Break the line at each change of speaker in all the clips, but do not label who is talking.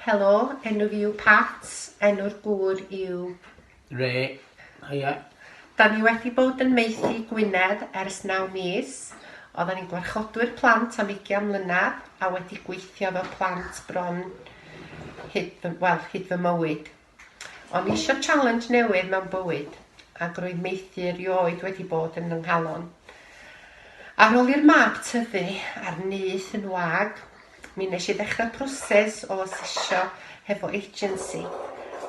Helo, enw fi yw Pat, enw'r gŵr yw... Ray, haia. Da ni wedi bod yn maethu Gwynedd ers naw mis. Oeddan ni'n gwarchodwyr plant am ugian mlynedd a wedi gweithio efo plant bron hyd fy, wel, hyd fy mywyd. O'n i isio challenge newydd mewn bywyd, ac roedd maethu erioed wedi bod yn fy nghalon. Ar ôl i'r mab tyfu a'r nyth yn wag, mi nes i ddechrau proses o asesio hefo agency,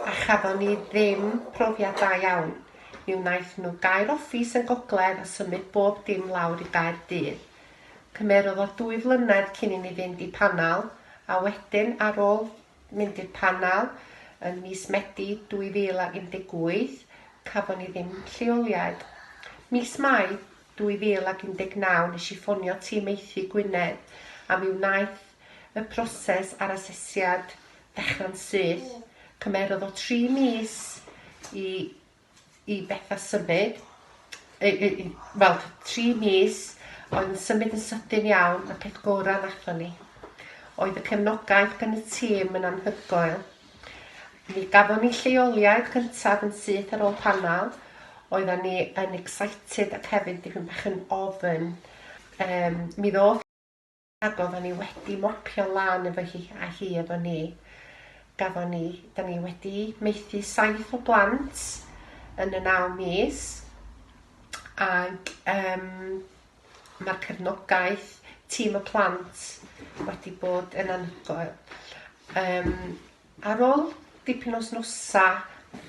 a chafon ni ddim profiad da iawn. Mi wnaeth nhw gau'r office yn Gogledd a symud bob dim lawr i Gaerdydd. Cymerodd o dwy flynedd cyn i ni fynd i panel, a wedyn ar ôl mynd i'r panel yn mis Medi 2018, cafon ni ddim lleoliad. Mis Mai 2019 nes i ffonio tîm Maethu Gwynedd a mi wnaeth y proses a'r asesiad ddechrau'n syth. Cymerodd o tri mis i i Betha symud, wel, tri mis, oedd yn symud yn sydyn iawn, y peth gorau nathon ni. Oedd y cefnogaeth gan y tîm yn anhygoel. Mi gafon ni lleoliad cyntaf yn syth ar ôl panel, oeddan ni yn excited ac hefyd dipyn bach yn ofn. Um, mi ddoth Ac oeddan ni wedi mopio lan efo hi a hi efo ni. Gafon ni, da ni wedi maethu saith o blant yn y naw mis. Ac um, mae'r cefnogaeth tîm y plant wedi bod yn anhygoel. Um, ar ôl dipyn o snosa,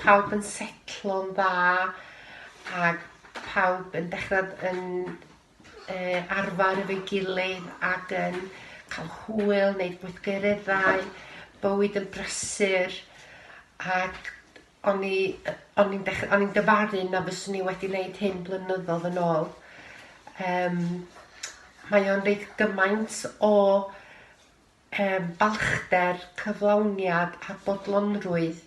pawb yn setlo'n dda ac pawb yn dechrau yn arfer efo'i gilydd ac yn cael hwyl, wneud gweithgareddau, bywyd yn brysur ac o'n i yy o'n i'n dech- o'n i'n dyfaru na fyswn i wedi wneud hyn blynyddoedd yn ôl. Yym mae o'n reit gymaint o yym balchder, cyflawniad a bodlonrwydd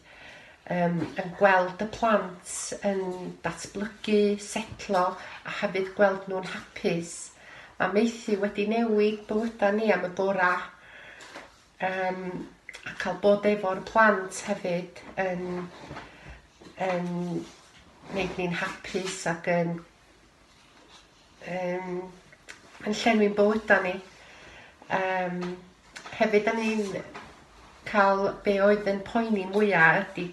yym yn gweld y plant yn datblygu, setlo a hefyd gweld nhw'n hapus. Mae maethu wedi newid bywydau ni am y gorau yym a cael bod efo'r plant hefyd yn yn wneud ni'n hapus ac yn um, yn llenwi'n bywydau ni. Um, hefyd, da ni'n cael be oedd yn poeni mwyaf ydy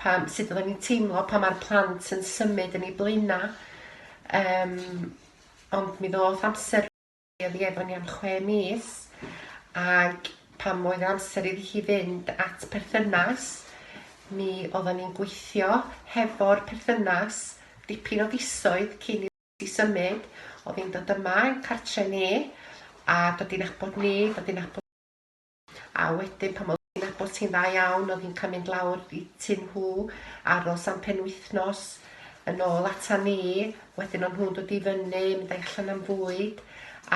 pam, sut oedden ni'n teimlo pa mae'r plant yn symud yn ei blaenau. Um, ond mi ddoth amser Oedd hi efo ni am chwe mis ac pan oedd amser iddi hi fynd at perthynas mi oedden ni'n gweithio hefo'r perthynas dipyn o fisoedd cyn i i symud, oedd hi'n dod yma yn cartre ni a dod i'n abod ni, dod i'n abod A wedyn pan oedd hi'n nabod ti'n dda iawn oedd hi'n cael mynd lawr i tŷ nhw, aros am penwythnos, yn ôl ata ni, wedyn o'n nhw'n dod i fyny, mynd â'i allan am fwyd,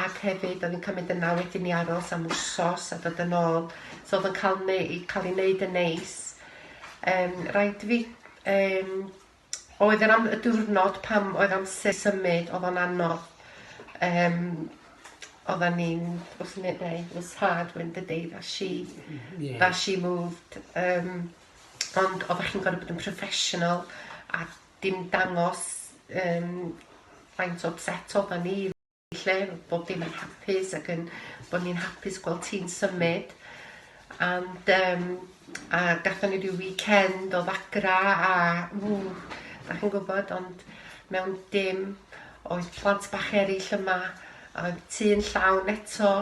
ac hefyd oedd hi'n cael mynd yna wedyn i aros am wsos a dod yn ôl. So oedd yn cael, neu, cael ei wneud yn neis. Um, rhaid fi um, oedd yr am- y diwrnod pam oedd amser symud oedd o'n anodd yym oedden ni'n wrth ne- neu it was hard when the day that she yeah. that she moved um, ond oeddech chi'n gorfod bod yn professional a dim dangos um, faint o upset oedden ni lle bod dim yn hapus ac yn bod ni'n hapus gweld ti'n symud and um, a gatho ni rhyw weekend o ddagra a ww, da chi'n gwybod ond mewn dim oedd plant bach eraill yma a oedd tu yn llawn eto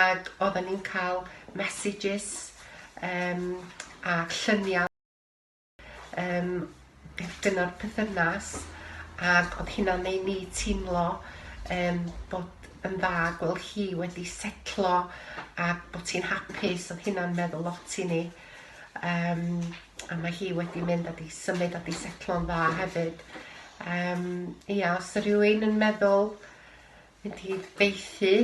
ac oedden ni'n cael messages um, a lluniau Yym, beth dyna'r pythynas, ac oedd hynna'n ei ni teimlo um, bod yn dda gweld hi wedi setlo a bod hi'n hapus, oedd hynna'n meddwl lot i ni. Um, a mae hi wedi mynd a di symud a di setlo'n dda hefyd. Um, ia, os y rhywun yn meddwl mynd i feithi,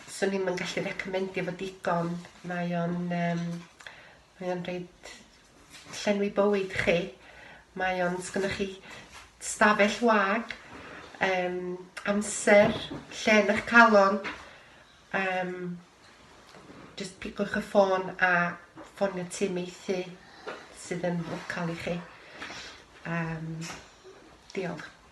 swn ni'n gallu recomendio fod digon, mae o'n um, mae o'n rhaid llenwi bywyd chi. Mae o'n, sgynnoch chi stafell wag, um, amser, lle yn eich calon, um, just pigwch y ffôn a ffonio tîm meithi sydd yn local i chi. Um, diolch.